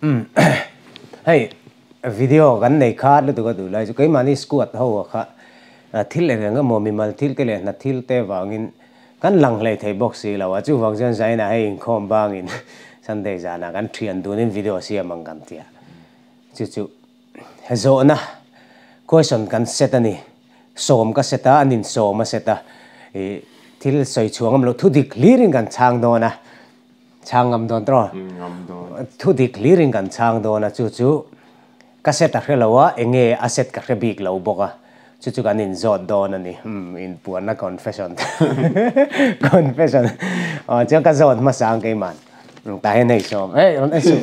Umm hei video kan nei kha lutuk a duh lai chu keimahni squad ho ah kha thil eng eng emaw mimal thil te leh hnat thil te vangin kan lang hlei thei bawk si lo a, chuvang chuan zaina hei inkhawm bangin Sunday zanah kan thian dunin video a siam ang kan tia chu chu zawhna question kan set a ni, sawm ka set a an insawm a set a ih thil sawi chhuangawm lo thudik hlir in kan chhang dawn a. Chhang ngam dawn tawh. Thu dik hlir in kan chhang dawn a, chu chu ka set a hre lo a, eng nge a set ka hre bik lo bawk a, chu chu kan in zawt dawn a ni. Umm, in puanna confession confession aw chuan ka zawt hmasa ang keimah tah hian hei sawm hei rawn en suh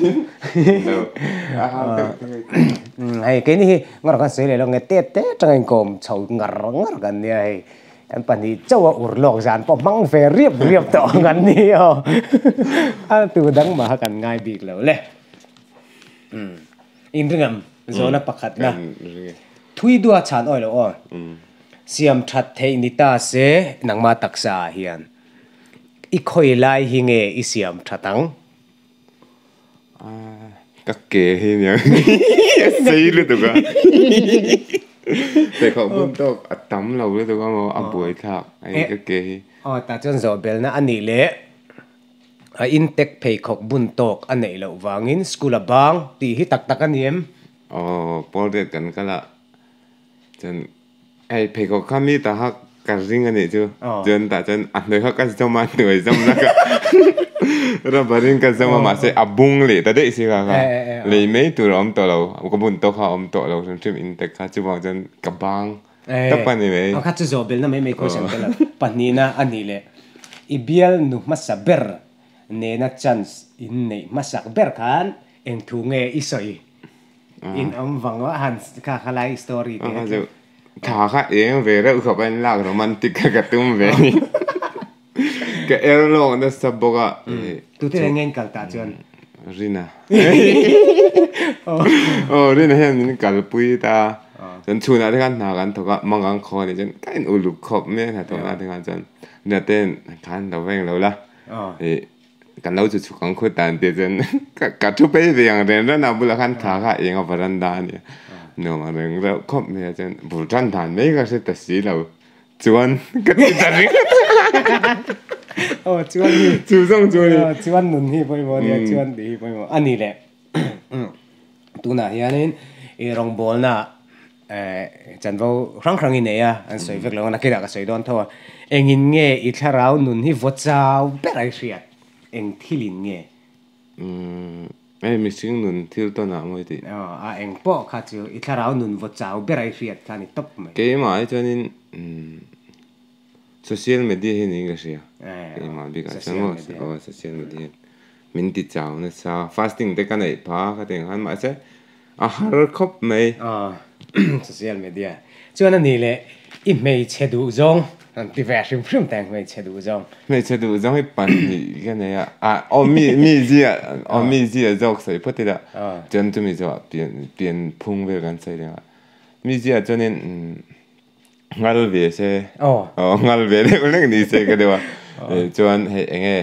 hei keini hi ngaw rawh khan sawi leh lo nge tet tet tang in kawm chho ngar ngar kan nia hei. An pahnih chaua ur lawk zan pawh hmang ve riap riap tawh ang an ni aw. A tu dang maha kan ngai bik lo le. Um. Inringam zawna pakhat na. Thui dua chhan awilo aw. Siam that theih ni ta se nangma taksa ah hian i khawi lai hi nge i siam that ang? Ka ke hi nia a sei lutuk a Teikhawk bun tawk a tam lo lutuk a maw a buai thlak hei ka ke hi. Aw tah chuan zawhbelna a nih leh a intek pheikhawk bun tawk a neih loh vangin school a bang tih hi tak tak a ni em? Aw Paul dad kan kal a. Chuan hei pheikhawk kha mi ta kha ka ring a nih chu. Chuan tah chuan a hnuai kha ka zawm a, hnuai zawm laka rubber in ka zawm a mahse a bung leh ta daih si kha kha lei mai tur a awm tawh lo. Ka bun tawk kha a awm tawh lo hrim hrim in tak kha chuvangah chuan ka bang tawp a ni mai. Kha chu zawhbelna mai mai question te lo. Pahnihna a nih leh i bial nu hmasa ber nena chance in neih hmasak ber khan eng thu nge i sawi? In awm vang a han kha kha lai story te a chu. Tha kha eng ve reuh khawp a in lak romantic kha ka tum ve ni. Ka er lawk nasa bawk a. Tute leh nge in kal ta chuan? Rina. Aw Rina hian min kal pui ta. Chuan chhunah te khan hna kan thawk a, mang kan khaw a nih chuan ka in uluk khawp mai a hna thawkna te khan chuan Rina te hian tha an lo veng lo la. Kan lo chu chhuk ang khut dan tih chuan ka thu phei ve ang reng reng a bulah khan thla kha a eng a varanda a nia nuam ang reng reng khawp mai a chuan bur tan dan mai ka hre ta si lo chuan ka ti ta ring oh chuan hi chu zawng chu ni chuan nun hi pawimawh nia chuan tih hi pawimawh a ni le tunah hianin i rawngbawlna Ehh, Chanvo hrang hrang i nei a, an sawi vek lo ang a, nakinah ka sawi dawn tho a. Engin nge i thlarau nun hi vaw chau berh ai hriat? Eng thilin nge? Umm, hei mihring nun thil tawnah mawi tih. Aw, a eng pawh kha chu i thlarau nun vaw chau berh ai hriat kha a ni tawp mai. Keimah hi chuanin umm. Social media hi niin ka hria. Ka i mah bikah chuan maw se aw social media hian min ti chau nasa. Fasting te ka neih pha ka ti ang khan mahse a har khawp mai. Aw social media chuan a ni le i hmeichhe duh zawng kan ti ve a hrim hrim teng hmeichhe duh zawng. Hmeichhe duh zawng hi pahnih ka nei a. Aw mi mi zia aw mi zia zawk sawi phawt ila chuan chumi zawh ah pian pian phung vel kan sawi reng a. Mi zia chuan in umm ngal ve se oh oh ngal ve deuh deuh ni se ka deuha eh chuan hei eng nge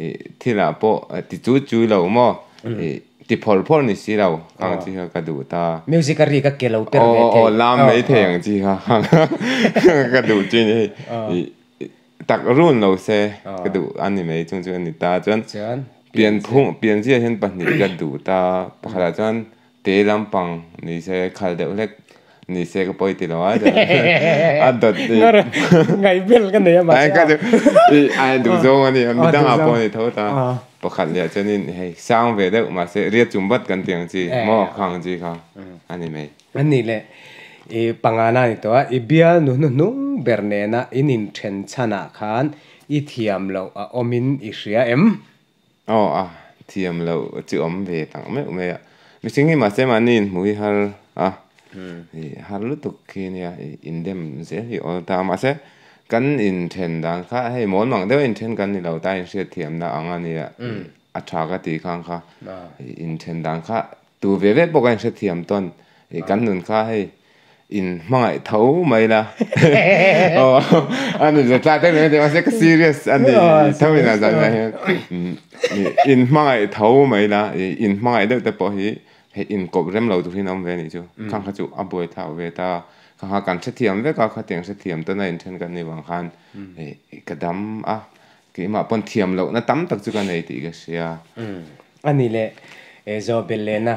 ih thilah pawh ti chu chui lo maw ih ti phawrh phawrh ni si lo ang chi kha ka duh ta music a ri ka ke lo per ve thei oh oh lam mai thei ang chi kha ka duh chi ni hei ih tak run lo se ka duh a ni mai chung chu a ni ta chuan pian phung pian zia hian pahnih ka duh ta pakhatah chuan Tei lampang ni se khal deuh hlek ni se ka pawi ti lo a a dawt i ngai vel ka nei a mahse ka ti i a duh zawng a ni a midang ah pawh a ni tho ta pakhat leh chuanin hei sang ve deuh mahse riat chum vat kan tih ang chi maw khang chi kha a ni mai a ni le i pangana a ni tawh a i bial nu hnuhnung ber nena in inthen chhan ah khan i thiam loh a awm in i hria em? Aw a thiam loh chu awm ve tak meuh mai a, mihring hi mahse mahni in hmu hi har a, ih har lutuk khi a nia, ih indem zel hi awl ta a, mahse kan inthen dan kha hei mawn mang deuha inthen kan ni lo ta, inhriat thiamna ang a nia, a tha ka ti khang kha, ih inthen dan kha. Tu ve ve pawh ka inhrethiam tawn. I kan nun kha hei in hmangaih tho mai la. Ani zia tla tek lohna mahse ka serious a ni tho ina zan ina hian in hmangaih tho mai la. I in hmangaih deuh te pawh hi hei in kawp rem lo tur hi an awm ve anih chu. Khang kha chu a buai thlau ve ta. Khang kha kan hrethiam vek a, khatiang hrethiam tawn a inthen kan ni vang khan ka dam a. Keimah pawn thiam lohna tam tak chu ka nei tih ka hria. A ni le, e Zawbellena,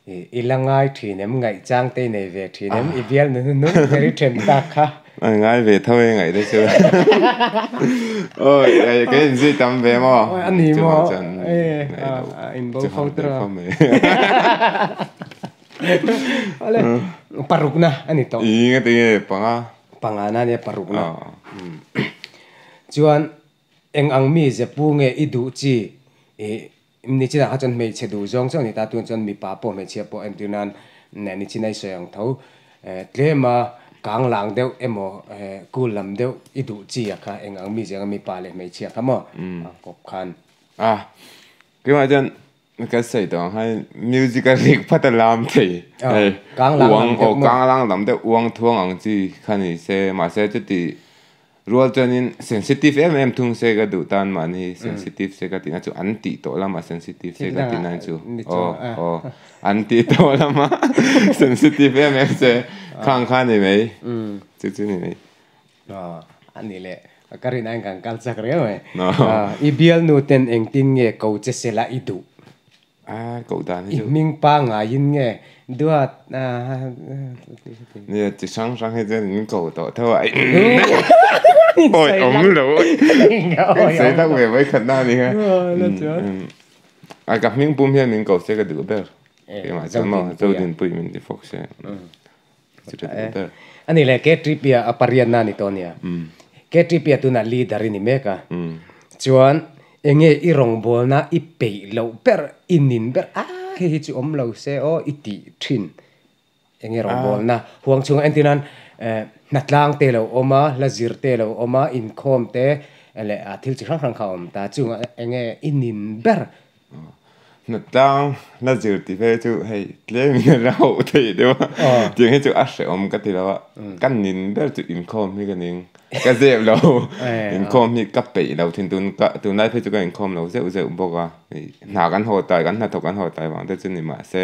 i la ngai thin em, ngaihchang te i nei ve thin em, i bial nunu nung ber i then tak kha. A ngai ve tho e ngaih te chu. Aw, kei in zui tam ve maw? A ni maw? Chuvang chuan, ngaihloh. In bo fo tawh. Chuvang ngaih khawm e. Awle, parukna a ni tawh. I, ngaih te nge panga. Panga na nia paruk na chuan eng ang mi ze pu nge i duh chi ih nichina kha chuan hmeichhe duh zawng zawng ani ta tun chuan mipa pawh hmeichhia pawh entir nan nichina i sawi ang tho tlema kang lang deuh emaw kul lam deuh i duh chi a kha eng ang mi ze eng ang mipa leh hmeichhia kha maw kawp khan. Tunah chuan kan sawi tawh ang khan music a rek phat a lam thei hei uang aw kanglang lam deuh uang thuang ang chi kha ni se mahse chuti rual chuanin sensitive em em thung se ka duh tan mahni hi sensitive se ka tihna chu an tih tawh lam a sensitive se ka tihna chu aw aw an tih tawh lam a sensitive em em se khang kha ni mai chu chu ni mai. Aww ani le ka rin ain kan kal chak riau mai i bialnu ten engtin nge ko che se la i duh a ko dan hi chu i hming pa ngai in nge dua ni chi sang sang hi chuan min ko tawh theuh a aww awm lo insawi lak ve mai khatna ani kha a ka hming pum hian min ko se ka duh ber kei mah chuan maw Zodin puihin min ti fawk se. A ni le, K-3PA a pariatna a ni tawh a nia. K-3PA tunah leader i ni mek a. Chuan enge i rawngbawlna i peih loh ber, i nin ber a, hei hi chu awm lo se aw i ti thin. Enge rawngbawlna? Huang chhungah entir nan hnatlâng te lo awm a, hla zir te lo awm a, inkhawm te leh thil chi hrang hrang kha a awm ta. Chungah enge i nin ber? Hnatlang la zir tih phei chu hei tlem in a rauh theih deuh a. Tiang hi chu a hrehawm ka ti lo a. Ka nin ber chu inkhawm hi ka ning ka zep lo. Inkhawm hi ka peih lo thin tun ka tunlai phei chu ka inkhawm lo zeuh zeuh bawk a. Hna kan haw tai kan hnathawk kan haw tai vang te chu ni mah se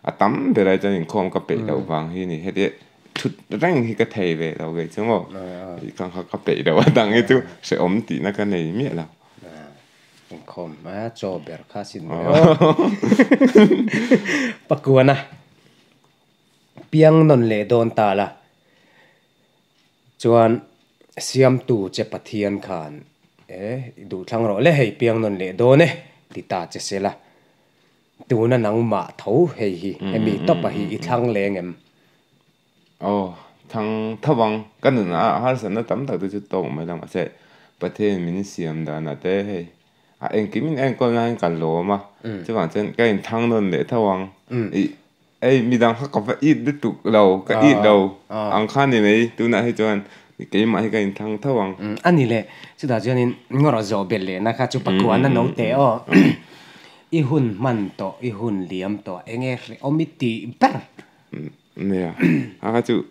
a tam ber ai chuan inkhawm ka peih loh vang hi ni. Heti thut reng hi ka thei ve lo ve chung aw. Ka peih loh a dang hi chu hrehawm tihna ka nei miah lo. Inkhawm a chaw ber kha a sin mawi o. Pakuana piang nawn leh dawn ta la chuan siamtu che Pathian khan e i duhthlang rawh le hei piang nawn leh dawn e ti ta che se la tuna nangmah tho hei hi hemi tawpah hi i thlang leng em? Aw, thang tho ang. Ka nunah harsatna tam tak te chu tawk mai lo mahse, Pathianin min siam danah te hei a engkimin a enkawl nangin ka lawm a. Chuvang chuan ka inthang nawn leh tho ang. I hei midang kha ka va it lutuk lo, ka it lo ang kha ni mai. Tunah hi chuan keimah hi ka inthang tho ang. A ni le, chutah chuanin ngaw rawh zawh belh lehna kha chu pakua na no teh aw. I hun hman tawh, i hun liam tawh enge hre awm i tih ber. Nia, anga chu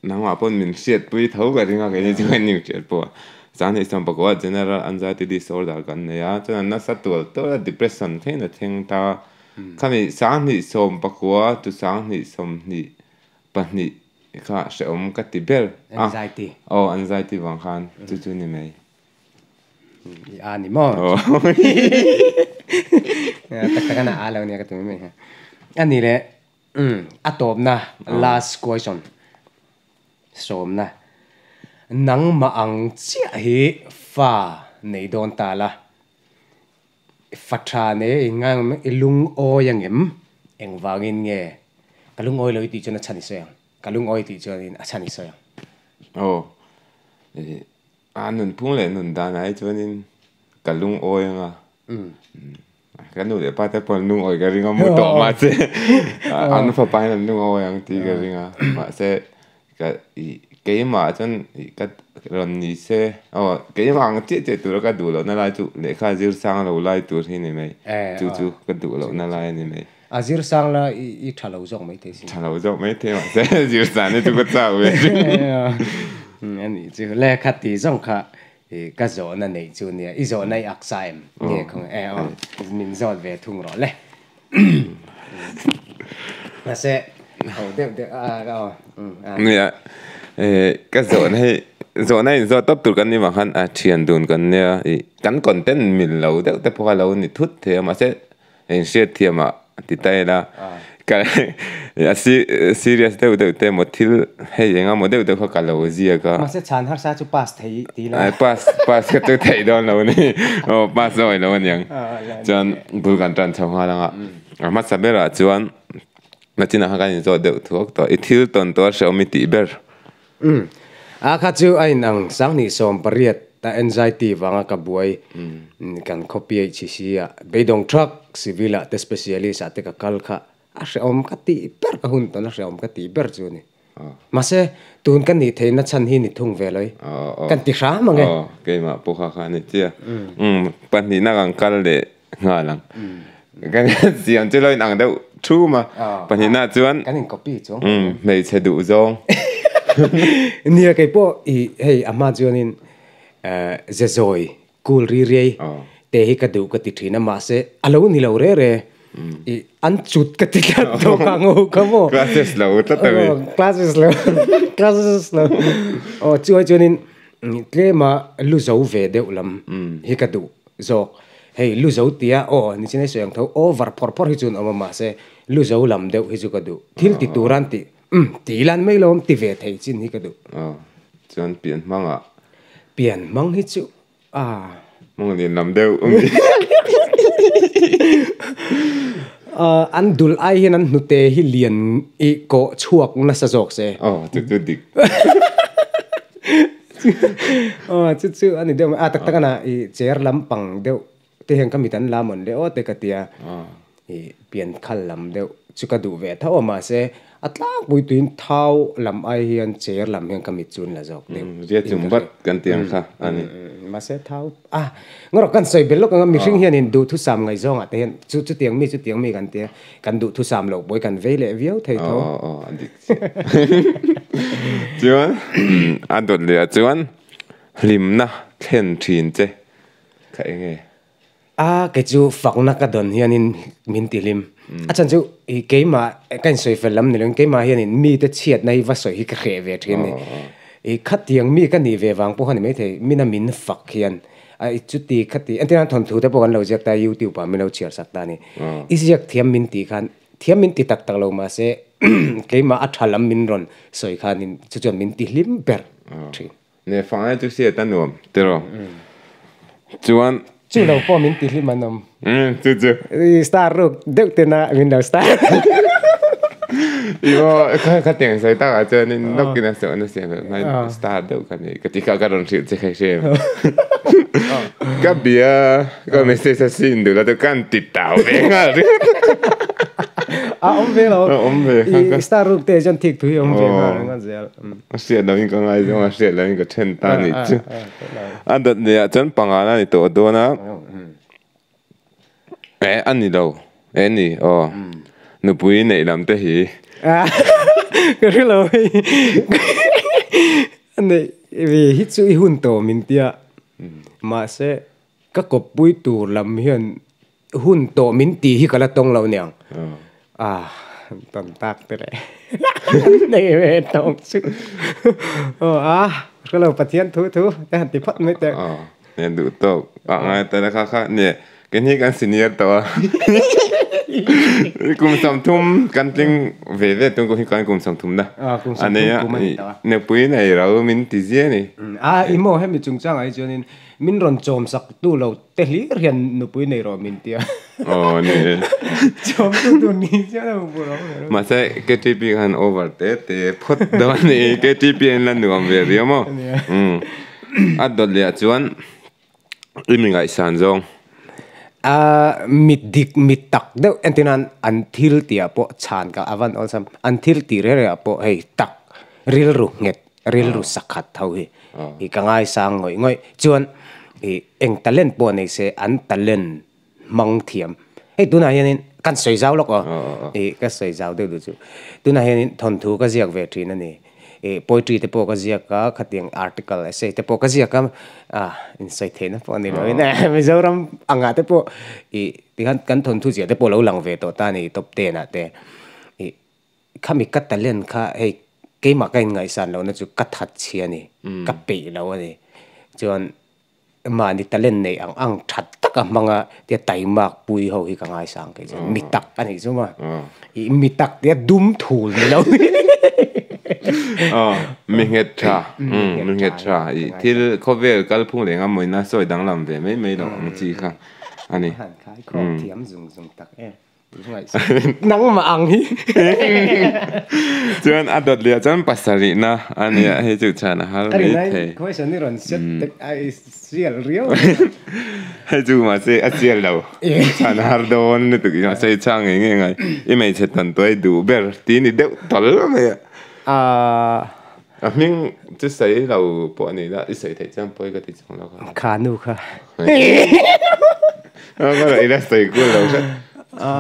nangmah pawn min hriatpui tho ka ring a, keini chu kan ning hriat pawh a. Chang ni chuan pakua general anxiety disorder kan nei a, chuan nasa tual tual a depression theihin a thleng ta a. Khami sanghnih sawm pakua to sanghnih sawmhnih pahnih kha hrehawm ka ti ber a. Anxiety. Aw, anxiety vang khan chu chu ni mai. I a ni maw? Aw. Tak tak a na a lo nia ka ti mai mai hi. A ni le. Umm a tawpna last question sawmna nangmah ang chiah hi fa nei dawn ta la fa tha nei engam i lungawi angem engvangin nge ka lungawi lo i tih chuan a chhan i sawi ang ka lungawi tih chuan in a chhan i sawi ang. A nunphung leh nundan ai chuanin ka lungawi anga ka nu leh pa te pawh an lungawi ka ring a mu tawh mahse an fapa hian an lungawi ang tih ka ring a mahse ka keimah chuan ka rawn ni se aw keimah ang chiah chiah tura ka duh lohna lai chu lehkha zir sang lo lai tur hi ni mai chu chu ka duh lohna lai a ni mai. A zir sang la i i tha lo zawk maithei si. Tha lo zawk maithei mahse zir sang hi chu ka chau ve chu. Eng a nih chu. Lehkha ti zawng kha i ka zawhna neih chu nia, i zawhna i ak sa em? Nge khaw nge? Aw, min zawt ve thung rawh le. Mahse, aw deuh deuh a a aw. Nia, e ka zawhna hi zawhna in zawt tawp tur kan ni vang khan a thian dun kan nia. I kan content mil lo deuh te pawh kha lo ni thut thei a, mahse, Eng hriat thiam ah ti ta ila ka serious deuh deuh te emaw thil hei eng emaw deuh deuh kha ka lo ziak a. Mahse chhan harsa chu pass thei ti ila. Ai pass pass kha chu thei dawn lo ni aw pass zawk ilo aniang chuan bul kan tan chho nghal anga a hmasa ber ah chuan ka chin ah khan kan in zawt deuh thuak tawh i thil tawn tur a hre awm i tih ber. Umm. A kha chu a inang, Sanghnih sawm pariat a anxiety vanga ka buai kan khaw PHCC ah beidawng thak civil ah te specialist ah te ka kal kha a hreawm ka tih ber, ka hun tawn a hreawm ka tih ber chu ni. Mahse, tun ka nih theihna chhan hi ni thung ve loi, kan ti hram ang e. Keimah pawha kha a ni tia. Umm. Pahnihna kan kal leh nghal ang kan siam chu lo in ang deuh thu ma pahnih na chuan kan in copy chung hmeichhe duh zawng nia kei pawh i hei a hma chuan in zezawi kul ri ri te hi ka duh ka ti thin a mahse a lo ni lo rere i an chut ka ti tlat tawh ka ngo ka maw classes lo tlat ta mi classes lo classes lo aw chuai chuan in tlema lu zo ve deuh lam hi ka duh zawk. Hei lu zo tia aw ni chin a sawi ang tho, over phawrh phawrh hi chuan awm a mahse lu zo lam deuh hi chu ka duh. Thil ti turan ti umm ti lan mai lo awm ti ve thei chin hi ka duh. Aw chuan pian hmang ah. Pian hmang hi chu aah. Mawng nen lam deuh a mi. Aw an dul ai hian an hnute hi lian i kawh chhuak nasa zawk se. Aw chu chu dik. Aw, chu chu a ni deuh mai. A, tak tak a na, i chair lampang deuh te hian ka mit an la mawn leh aw te ka ti a, i pian khal lam deuh chu ka duh ve tho a, mahse, a tlangpui tuin thau lam ai hian chair lam hian ka mit chu an la zawk deuh. Zia chung vat kan ti ang kha a ni. Mahse, thau, a, ngaw rawh, kan sawi bel lawk ang a, mihring hian in duhthusam ngai zawngah te hian chu chutiang mi chutiang mi kan ti a, kan duhthusam lo pawi kan vei leh viau thei tho. chuan a dawt leh ah chuan hlimna thlen thin che kha eng nge? A kei chu fakna ka dawn hian in min ti hlim a chhan chu i keimah ka in sawi fel lam ni lo in keimah hian in mi te chhiat na hi va sawi hi ka hreh ve thin ni i khatiang mi ka nih ve vang pawh kha ni mai thei min a min fak hian a i chuti khati engtiang thawnthu te pawh kan lo ziak ta youtube ah min lo chhiar sak ta ni i ziak thiam min tih khan Thiam min ti tak tak lo mahse keimah a tha lam min rawn sawi khanin chu chuan min ti hlim ber thin. Neh fang e chu siat a nuam tiraw chuan. Chu lo pawh min ti hlim a nawm. Umm chu chu. I star ruk deuh ten a min lo star Imaw ka teng sawi takah chuanin nawkin a sawh nasa em em a star deuh ka nih ka ti kha ka rawn hrilh che kha hre em ka bia. Ka message a sin duh la te kan ti tau ve ngal ri. A om ve lo. A om ve. I star ruk te jon thik thui om ve ngal ri ngal zel. Hriat lo in ka ngai zong a hriat lo in ka then ta ni chu. A dat leh ah chuan panga la ni tawh a dawn a. E a ni lo. E ni aw. Nupui neih lam te hi. Ka hre lo hi. Neih ve hi chu i hun tawh min tia. Mahse Ka kawppui tur lam hian hun tawh min ti hi ka la tawng lo niang. Ah, tawn tak te leh. Kan nei ve tawh chu. Aw a, ka lo Pathian thu thu te han ti phawt mai teh. Aw, nge duh tawk. Ah ngai ta le kha kha nge kan hi kan senior tawh a. Kum sam thum kan tling ve ve tawng hi kan kum sam thum na. Ah, kum sam thum kum a ni tawh a. Nupui nei lo min ti zia ni. Ah, i maw hemi chungchang ah hi chuan in. Min rawn chawmsak tu lo te hlir hian nupui nei rawh min tia. Aw ni e. Chawmtu tur ni chiang lo nupui rawh nei rawh. Mahse KTP khan over te te phawt dawn a ni. KTP in la nuam ve viau maw? A nia. Umm. A dawt leh ah chuan i mi ngaihsan zawng. A mit dik mit tak deuh entir nan an thil tih ah pawh chhan kah a van awlsam. An thil tih rel rel ah pawh hei tak rilru nghet Rilru sak khat tho hi i ka ngaisang ngawih ngawih. Chuan i eng talent pawh nei se an talent hmang thiam. Hei tunah hianin kan sawi zau lawk aw. I ka sawi zau deuh duh chu. Tunah hianin thawnthu ka ziak ve thin a ni. I poetry te pawh ka ziak a, khatiang article, essay te pawh ka ziak a. A insawi theihna pawh a ni lo in a, Mizoram angah te pawh i tihian kan thawnthu ziah te pawh lo lang ve tawh ta a ni top ten ah te. I. Khami ka talent kha hei keimah ka inngaihsan lohna chu ka that chhi a ni, ka peih lo a ni. Chuan mahni talent neih ang ang that tak a hmang a, tia Taimak Puii ho hi ka ngaisang kei chuan mi tak a nih chu ma, i mi tak tia dum thul ni lo hi Mi nghetṭha, mi nghetṭha, i thil khawvel kalphung leh ngamawina sawi danglam ve mai mai lo ang chi kha a ni. Nangmah ang hi. Chuan a dawt lehah chuan pasarihna a ni a, hi chu chhan a har mai thei. Question hi rawn set tek a i sial riau mai a. Hei chu mahse a sial lo, chhan a har dawn lutuk i mahse i chang ngei ngei ngai. I hmeichhe tawntuai duh ber, tih i ni deuh tal mai a. Ahh. A hming chu sawi lo pawh ni ila i sawi theih chuan pawi ka ti chang lo kha. Khanu kha. A ka raih ila sawi kul lo hret. A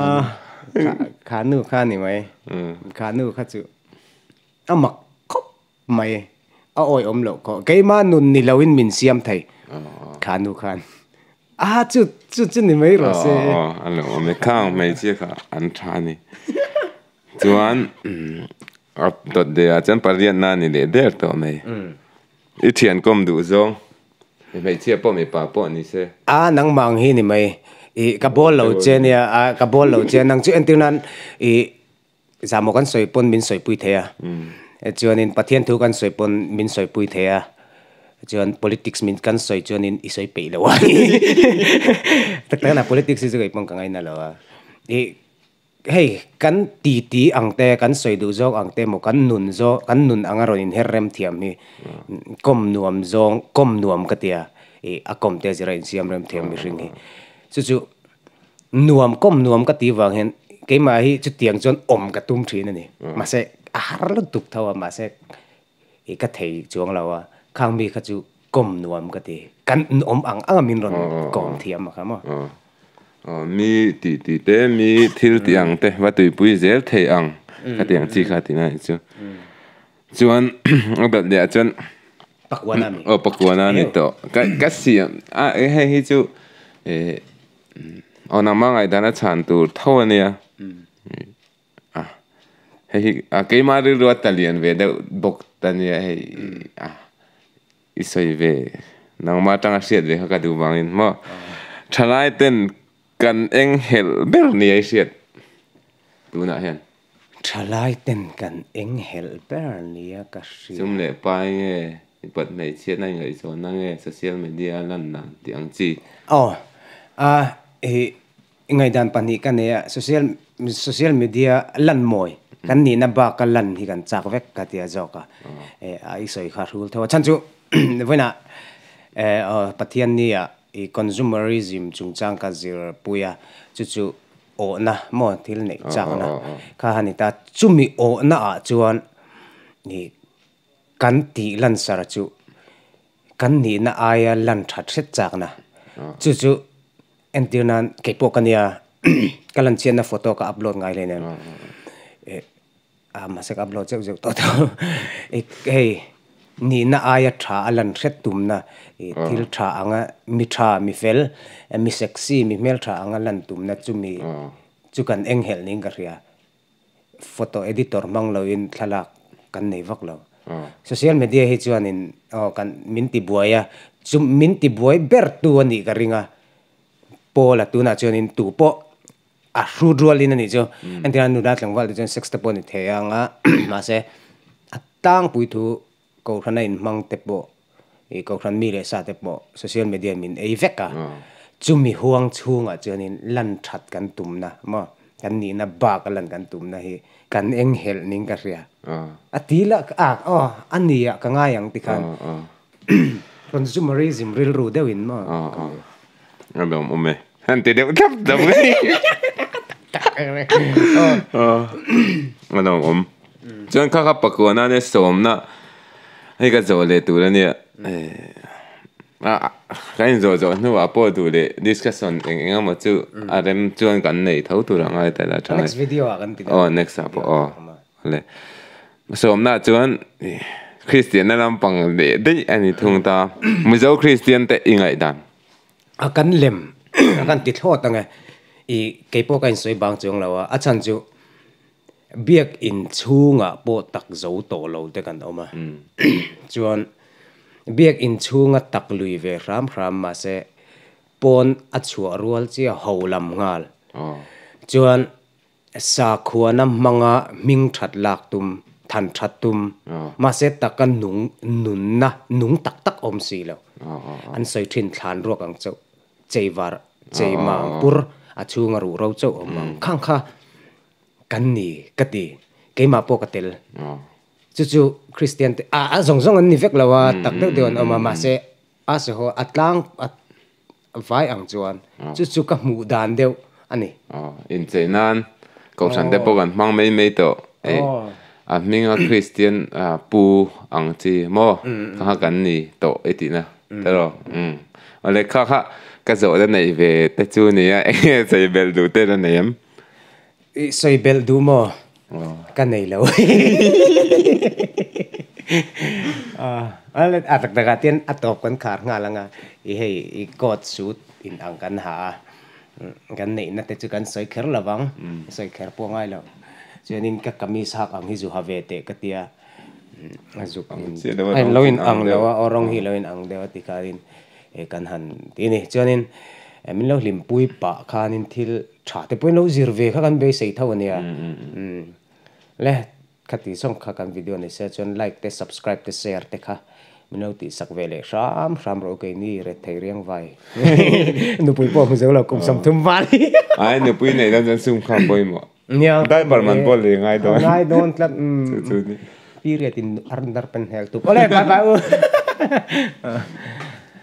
khanu kha ni mai. Khanu kha chu a mak khawp mai. A awih awm loh khawp. Keimah nun ni loin min siam thei khanu khan. A chu chu chu ni mai rawh se. A lo awm e. Khang hmeichhia kha an tha a ni. Chuan a dawt leh ah chuan pariat na a ni leh der tawh mai. I thian kawm duh zawng. I hmeichhia pawh mipa pawh ni se. A nangmang hi ni mai. I ka bawl lo che nia a ka bawl lo che. Nang chu entir nan i zah maw kan sawi pawn min sawi pui thei a. Chuan in Pathian thu kan sawi pawn min sawi pui thei a. Chuan politics min kan sawi chuan in i sawi peih lo a ni. Tak tak in a politics hi chu kei pawn ka ngaina lo a. I. hei kan titi ang te kan sawi duh zawk ang te emaw kan nun zawk kan nun anga rawn in her rem thiam hi kawm nuam zawng kawm nuam ka tia ih a kawm te zira insiam rem thiam mihring hi chu chu nuam kawm nuam ka tih vang hian keimah hi chutiang chuan awm ka tum thin a ni mahse a har lutuk tho a mahse i ka thei chuang lo a, khang mi kha chu kawm nuam ka ti. Kan awm ang anga min rawn kawm thiam a kha maw. Aw, mi tih tih te, mi thil tih ang te, va tuipui zel thei ang ka ti ang chi kha a ti mai chu. Chuan a dalh leh ah chuan. Pakuana a ni. Aw, Pakuana a ni tawh. Ka siam a, hei hi chu aw nangma ngaihdan a chhan tur tho a nia. ah hei a keima rilru a ta lian ve deuh bawk ta nia hei a i sawi ve nangma atanga hriat ve kha ka duh vangin maw thalai ten kan eng helh ber nia i hriat tunah hian thalai ten kan eng helh ber nia ka hriat chum leh pai nge i pat hmeichhia nai ngaihchawhna nge social media a lan dan tih ang chi aw a i I ngaidan pahnih ka nei a, social social media lan mawi kan nihna baka lan hi kan chak vek ka ti a zawk a, a i sawi kha a hrul tho a, chhan chu vawiinah Pathian nia i consumerism chungchang ka zir pui a, chu chu awhna maw thil neih chakna kha a ni ta, chumi awhna ah chuan i Kan tih lansar chu kan nihna aia lan tha hret chakna. Chu chu entir nan keipawh ka nia ka lan chianna photo ka upload ngai hle nen mahse ka upload zeuh zeuh tawh tawh. Hei nihna aia tha a lan hret tumna thil tha anga mi tha mi fel mi sexy mi hmel tha anga lan tumna chumi chu kan eng helh niin ka hria. Photo editor hmang lo in thlalak kan nei vak lo. Social media hi chuan in aw kan min ti buai a, chu min ti buai ber tu a nih ka ring a. Paula tunah chuan in tu pawh a hru rual in a nih chu. Entirah nula tlangval te chuan sex te pawh a ni thei ang a, mahse a tlangpui thu Kohhrana inhmang te pawh, ih kohhran mi leh sa te pawh social media min ei vek a, chumi huang chhungah chuanin lan that kan tumna maw, kan nihna baka lan kan tumna hi kan eng helh ning ka hria. A ti la a aw a nia ka ngai ang tikhan consumerism rilru deuhin maw ka hmu. Rilawm awm e. An ti deuh thlap thlap mai. Alo awm. Chuan kha kha pakua nane sawmna hei ka zawh leh tur ania. Kan inzawh zawh hnu ah pawh duh leh discussion eng eng emaw chu a rem chuan kan nei tho tur a ngai tel a. Tha nge. Aw next ah pawh aw. Vale. Sawmna ah chuan Kristian na lampang leh daih a ni thung ta. Mizo Kristian te i ngaih dan. a kan lem a kan ti thlawt ange i kei pawh ka insawi bang chuang lo a a chhan chu biakin chhungah pawh takzo tawh lo te kan awm a chuan biakin chhunga tak lui ve hram hram mahse pawn a chhuah rual chiah ho lam nghal chuan Sakhuana hmanga hming that lak tum, than that tum, mahse taka nung nunna nung tak tak awm si lo. An sawi thin thlan ruak ang chauh. Chei var, chei mang pur a chhunga ruh ro chauh awm ang khang kha kan ni ka ti. Keimah pawh ka tel. Chu chu Kristian te ah zawng zawng an ni vek lo a, tak deuh deuh an awm a. Mahse, a saw haw a tlang, Vai ang chuan chu chu ka hmuh dan deuh a ni. Aw, inchei nan kohhran te pawh kan hmang mai mai tawh. Ei, a hminga Kristian pu ang chi maw kha kha kan ni tawh i tihna telaw? Umm. Awle, kha kha ka zawh la neih ve te chu a ni a, enge chei belh duh te la nei em? I sawi belh duh maw? Ka nei lo. A tak takah chuan a tawp kan khar nghal ang a, i hei i court suit inang kan ha a, kan neihna te chu kan sawi kher lo vang, ka sawi kher pawh ngai lo. Chuanin ka kamis hak ang hi zu ha ve teh ka ti a, a zuk a in, a lo inang deuh a, aw rawng hi a lo inang deuh a tikhahin He kan han tih a ni. Chuanin min lo hlim pui pah khanin thil tha te pawhin lo zir ve kha kan beisei tho a nia. Le khati zawng kha kan video ni se chuan like te subscribe te share te kha min lo tihsak ve leh hram hram rawh kei ni ret thei riang vai. Nupui pawh a hmu zo lo kum sam thum val hi. Ai nupui nei dan chuan sum kha a pawimawh. Nia. Diaper man pawh lei ngai dawn. Ngai dawn tlat. Chu chu ni. Period in arnder pen hel tuk. Awle bye bye u.